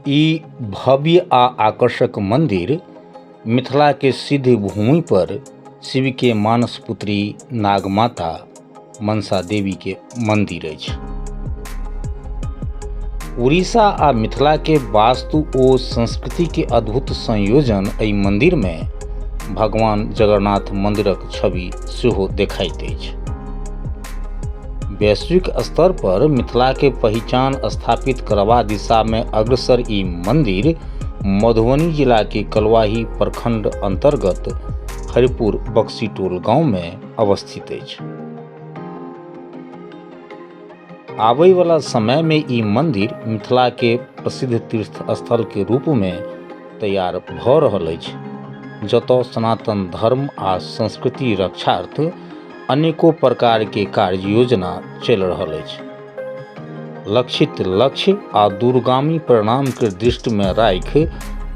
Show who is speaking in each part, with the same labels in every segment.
Speaker 1: ई भव्य आ आकर्षक मंदिर मिथिला के सिद्ध भूमि पर शिव के मानस पुत्री नागमाता मनसा देवी के मंदिर अछि उड़ीसा आ मिथिला के वास्तु ओ संस्कृति के अद्भुत संयोजन एहि मंदिर में भगवान जगन्नाथ मंदिरक छवि सेहो देखाइत अछि वैश्विक स्तर पर मिथिला के पहचान स्थापित करवा दिशा में अग्रसर ई मंदिर मधुबनी जिला के कलवाही प्रखंड अंतर्गत हरिपुर बक्सी टोल गांव में अवस्थित अछि आबय वाला समय में ई मंदिर मिथिला के प्रसिद्ध तीर्थ स्थल के रूप में तैयार भऽ रहल अछि जतय सनातन धर्म आ संस्कृति रक्षार्थ अनेको प्रकारके कार्य योजना चलि रहल अछि लक्षित लक्ष्य आ दूरगामी परिणामके दृष्टिमे राखि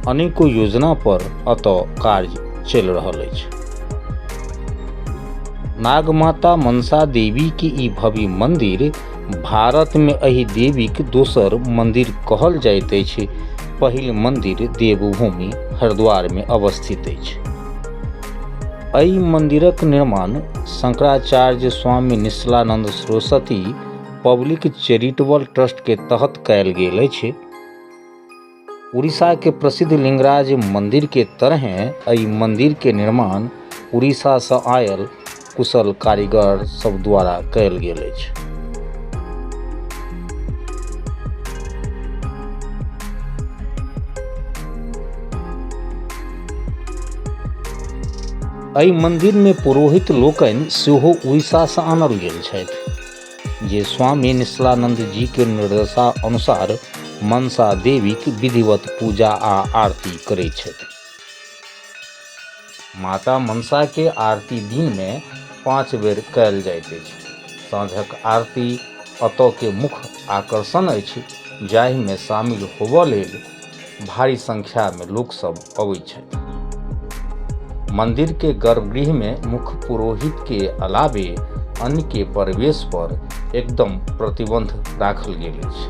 Speaker 1: अनेको योजना पर एतऽ कार्य चलि रहल अछि नागमाता मनसा देवीके ई भव्य मन्दिर भारतमे एहि देवीक दोसर मन्दिर कहल जाइत अछि पहिल मन्दिर देवभूमि हरिद्वारमे अवस्थित अछि एहि मन्दिरक निर्माण Shankaracharya Swami Nishchalanand Saraswati public charitable trust के तहत कयल गेल अछि उड़ीसा के प्रसिद्ध लिंगराज मंदिर के तरह एहि मंदिर के निर्माण उड़ीसा से आयल कुशल कारीगर सब द्वारा कयल गेल अछि एहि मन्दिरमे पुरोहित लोकनि सेहो उड़ीसासँ आनल गेल छथि जे स्वामी निश्लानन्द जीके निर्देशा अनुसार मनसा देवीक विधिवत पूजा आ आरती करैत छथि माता मनसा के आरती दिन मे पाँच बेर कयल जाइत अछि। साँझक आरती अतऽ के मुख्य आकर्षण अछि जाहि मे शामिल होबऽ लेल भारी संख्या मे लोक सब अबैत छथि। मंदिर के गर्भगृह मे मुख्य पुरोहित के अलावे अन्य के प्रवेश पर एकदम प्रतिबंध राखल गेल अछि।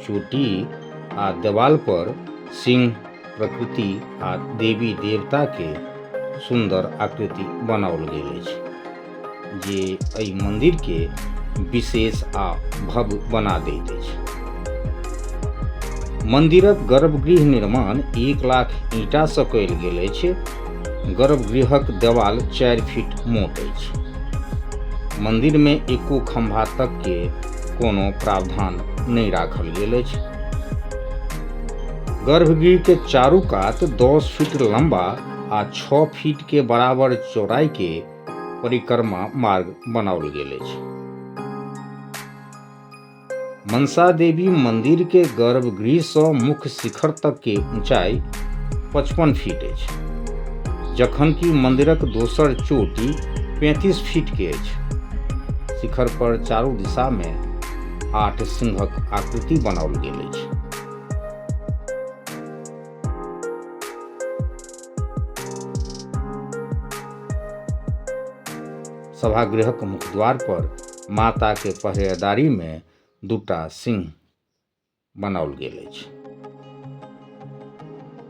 Speaker 1: चोटी आ देवाल पर सिंह प्रकृति आ देवी देवता के सुंदर आकृति बनाओल गेल अछि जे एहि मंदिर के विशेष आ भव्य बना दैत अछि मंदिरक गर्भगृह निर्माण एक लाख ईटा से कयल गेल अछि गर्भगृहक देवाल चारि फीट मोट अछि मंदिर में एको खंभा तक के कोनो प्रावधान नहि राखल गेल अछि गर्भगृह के चारू कात दस फीट लंबा आ छओ फीट के बराबर चौड़ाई के परिक्रमा मार्ग बनाओल गेल अछि मनसा देवी मंदिर के गर्भगृह से मुख्य शिखर तक के ऊंचाई पचपन फीट अछि जखन कि मंदिरक दोसर चोटी पैंतीस फीट के अछि शिखर पर चारू दिशा में आठ सिंहक आकृति बनाओल गेल अछि सभागृहक मुखद्वार पर माता के पहरेदारी में दूटा सिंह बनाओल गेल अछि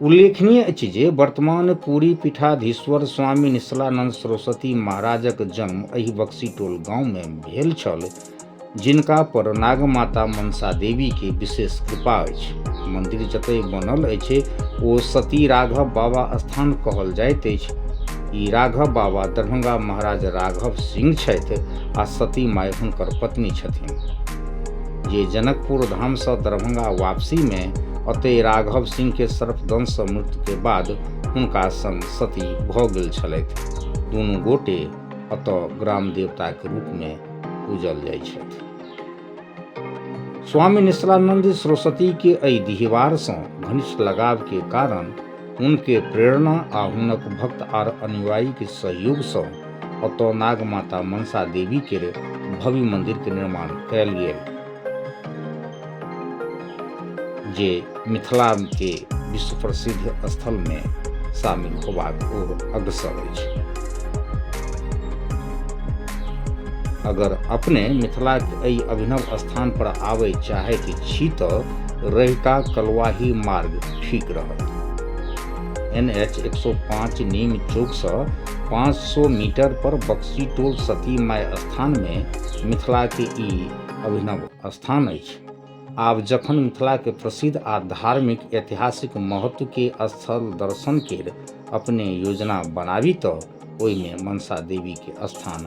Speaker 1: उल्लेखनीय अछि जे वर्तमान पूरी पीठाधीश्वर स्वामी निश्चलानंद सरस्वती महाराजक जन्म एहि बक्सीटोल गांवमे भेल छल जिनका पर नागमाता मनसा देवी के विशेष कृपा अछि मंदिर जतय बनल अछि ओ सती राघव बाबा स्थान कहल जाइत अछि ई राघव बाबा दरभंगा महाराज राघव सिंह छथि आ सती माय हुनकर पत्नी छथिन जे जनकपुर धामसँ दरभंगा वापसीमे ओतहि राघव सिंहके सर्पदंशसँ मृत्युके बाद हुनका संग सती भऽ गेल छलथि दुनू गोटे ओतऽ ग्राम देवताके रूपमे पूजल जाइ छथि स्वामी निश्चलानंद सरस्वतीके एहि दिहवारसँ घनिष्ठ लगावके कारण हुनके प्रेरणा आ हुनक भक्त आर अनुयायी के सहयोग से ओतऽ नाग माता मनसा देवी के भव्य मंदिर के निर्माण कयल गेल जे मिथिला के विश्व प्रसिद्ध स्थल में शामिल होबाक ओर अग्रसर अछि अगर अपने मिथिला के एहि अभिनव स्थान पर आबय चाहैत छी तऽ रहिका कलवाही मार्ग ठीक रहत एन एच एक सौ पाँच नीम चौक से पाँच सौ मीटर पर बक्सी टोल सती माय स्थान में मिथिला के ई अभिनव स्थान अछि आब जखन मिथिला के प्रसिद्ध आ धार्मिक ऐतिहासिक महत्व के स्थल दर्शन के अपने योजना बनाबी तऽ ओहिमे मनसा देवी के स्थान